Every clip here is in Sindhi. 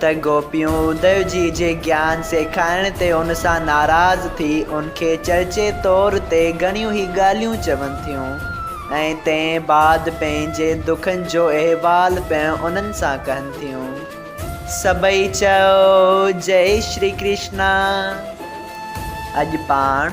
ته گوپيون اديو جي جي گيان سيکارڻ تي ان سان ناراض ٿي ان کي چرچي طور تي گهڻيون ئي ڳالهيون چون ٿيون ۽ تنهن بعد پنهنجي دکن جو احوال پڻ انهن سان ڪهن ٿيون. سڀئي چئو جئي شري ڪرشنا. اڄ پاڻ.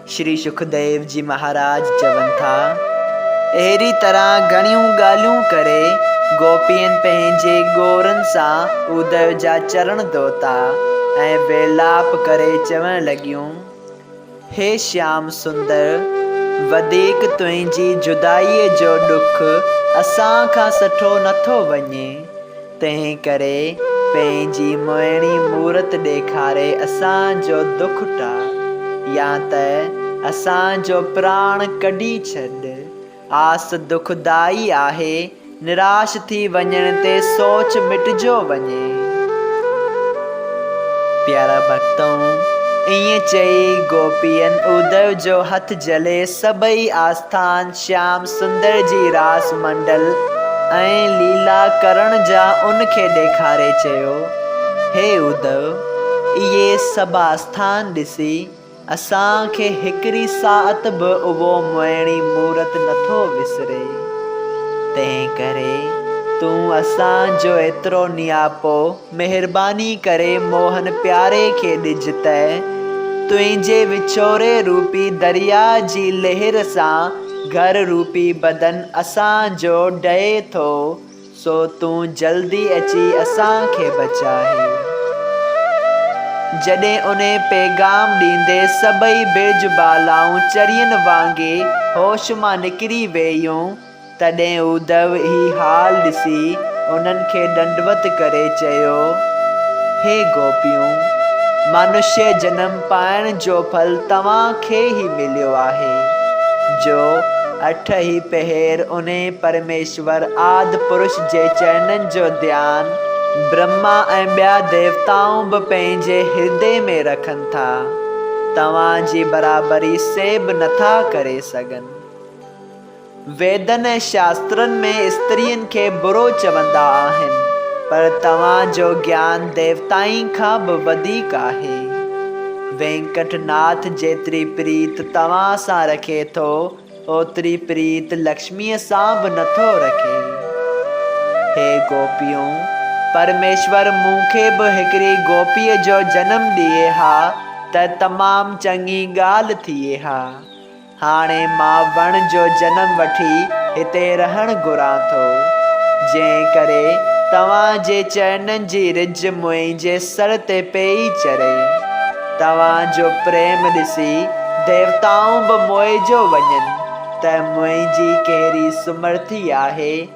شري سکديو جي مهاراج چون ٿا، اهڙي طرح گهڻيون ڳالهيون ڪري گوپين پنهنجي ڳورن سان اوديو جا چرڻ ڌوتا ۽ ويلاپ ڪري چوڻ لڳيون، هي شيام سندر! وڌيڪ تنهنجي جدائيء جو ڏک اسان کان سٺو نٿو وڃي. تنهن ڪري پنهنجي مهڻي مورت ڏيکاري اسان جو دک ٽاء يا ته اسان جو پراڻ ڪڍي ڇڏ. آس دکدائي آهي، نراش ٿي وڃڻ تي سوچ مٽجيو وڃي. پيارا ڀڳتؤن! ائين چئي گوپين اودئو جو هٿ جهلي سڀئي آسٿان شيام سندر جي راس منڊل ۽ ليلا ڪرڻ جا ان کي ڏيکاري چيو، هي اڌو! اهي سڀاستان ڏسي اسان کي هڪڙي ساعت به اهو موهڻي مورت نٿو وسري. تنهن ڪري تون اسان جو ايترو نياپو مهرباني ڪري موهن پياري کي ڏج ته تنهنجي وڇوري روپي درياء جي لهر سان گهر روپي بدن اسان جو ڊهي ٿو سو تون جلدي اچي اسان کي بچائي. جڏهن انهي پيغام ڏيندي سڀئي برج بالائون چرين وانگي هوش مان نڪري ويئيون. تڏهن اڌو هي حال ڏسي انهن کي ڏنڊوت ڪري چيو، هي گوپيون! منشيه جنم پائڻ جو ڦل توهان کي ئي مليو آهي، جو اٺ ئي پهر انهي پرميشور آد پرش جي چرنن جو ڌيان برهما ۽ ٻيا ديوتائون به پنهنجي هردي ۾ رکن ٿا، توهان جي برابري سي به نٿا ڪري سگهن. ويدن ۽ شاسترن ۾ استرين کي برو چوندا آهن، پر توهان جو گيان ديوتائن کان به وڌيڪ آهي. وينڪٽ ناٿ جيتري پريت توهان سان رکي ٿو، اوتري پريت لڪشميء سان به نه ٿو رکي. هي گوپيون! پرميشور مون کي به هڪڙي گوپيء جو جنم ڏئي ها ته تمام چڱي ڳالهه ٿئي ها. هاڻي مان وڻ جو جنم وٺي هتي رهڻ گهران ٿو، جنهن ڪري توهان جي چرنن جي رج منهنجي سر تي پيئي چري. توهان جو پريم ڏسي ديوتائون به موهجو وڃن ته منهنجي ڪهڙي سمرٿي آهي.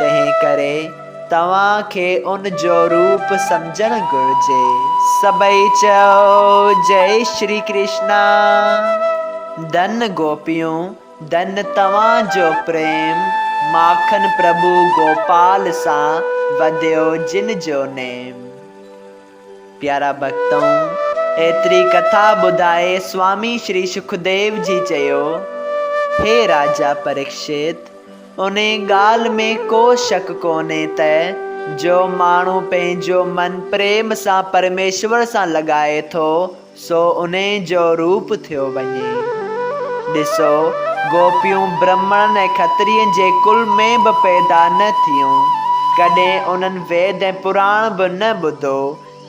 تنهن ڪري توهان کي ان جو روپ سمجهڻ گهرجي. سڀئي چيو، جئي شري ڪرشنا! ڌن گوپيون، ڌن توهان جو پريم، ماکن پرڀو گوپال سان وڌيو جن جو نيم. پيارا ڀڳتؤ! ايتري ڪٿا ٻڌائي سوامي شري سکديو جي چيو، هي راجا پريڪشت! انهي ڳالهه ۾ ڪو شڪ ڪونهي ته جو ماڻهو پنهنجو من پريم سان پرميشور سان لڳائي ٿو، سو انهي جو روپ ٿيو وڃي. ڏسو، گوپيون برهمڻن ۽ کترين جي ڪل ۾ به پيدا نه ٿيون. ڪڏهن انهن ويد ۽ پراڻ به نه ٻڌو،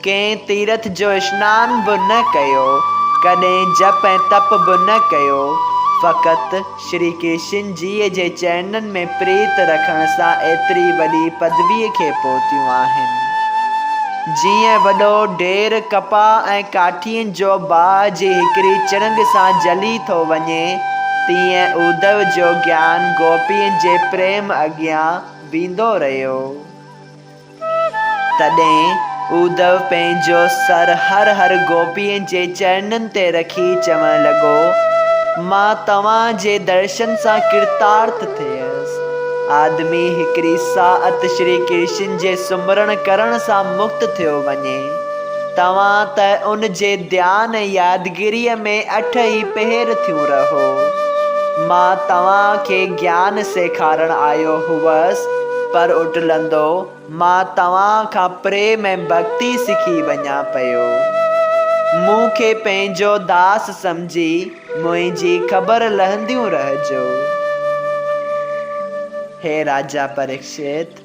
ڪنهن تيرٿ جو اشنان به نه ڪيو، ڪڏهن جپ ۽ تپ به نه ڪيو، فقط، شري ڪشن جيء جي چرنن ۾ پريت رکڻ سان ايتري وڏي پدويء کي پهتيون آهن. جيئن وڏو ڍير ڪپاهه ۽ ڪاٺين جو باهه جي هڪڙي چڻنگ سان جلي ٿو وڃي، تيئن اودئو جو گيان گوپين جي پريم اڳيان ويندو رهيو. تڏهن اودئو پنهنجو سر هر هر گوپيء جي چرنن تي رکي چوڻ لڳو، مان توهان جي درشن سان ڪرتارٿ ٿيس. آدمي هڪڙي ساعت شري ڪرشن جي سمرڻ ڪرڻ سان مڪت ٿيو وڃي. توهان ته ان جي ڌيان ۽ يادگيريء ۾ اٺ ئي پهر ٿيون رهو. مان توهان کي گيان سيکارڻ آيو هوس، پر اٽلندو مان توهان کان پريم ۽ ڀڳتي سکي وڃان پيو. مون کي پنهنجو داس سمجهي منهنجي خبر لهنديون رهجو. هي راجا پريڪشت!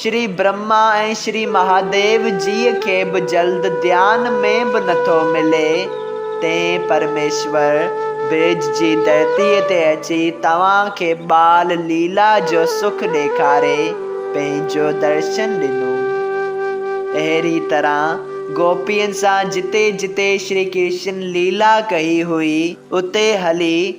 شري برهما ۽ شري مهاديو جيء کي به جلد ڌيان ۾ به نٿو ملي، تئين پرميشور برج جي ڌرتيء تي اچي توهان کي ٻال ليلا جو سک ڏيکاري پنهنجو درشن ڏنو. اهڙي طرح گوپين سان جتي جتي شري ڪرشن ليلا ڪئي هئي، اتي هلي،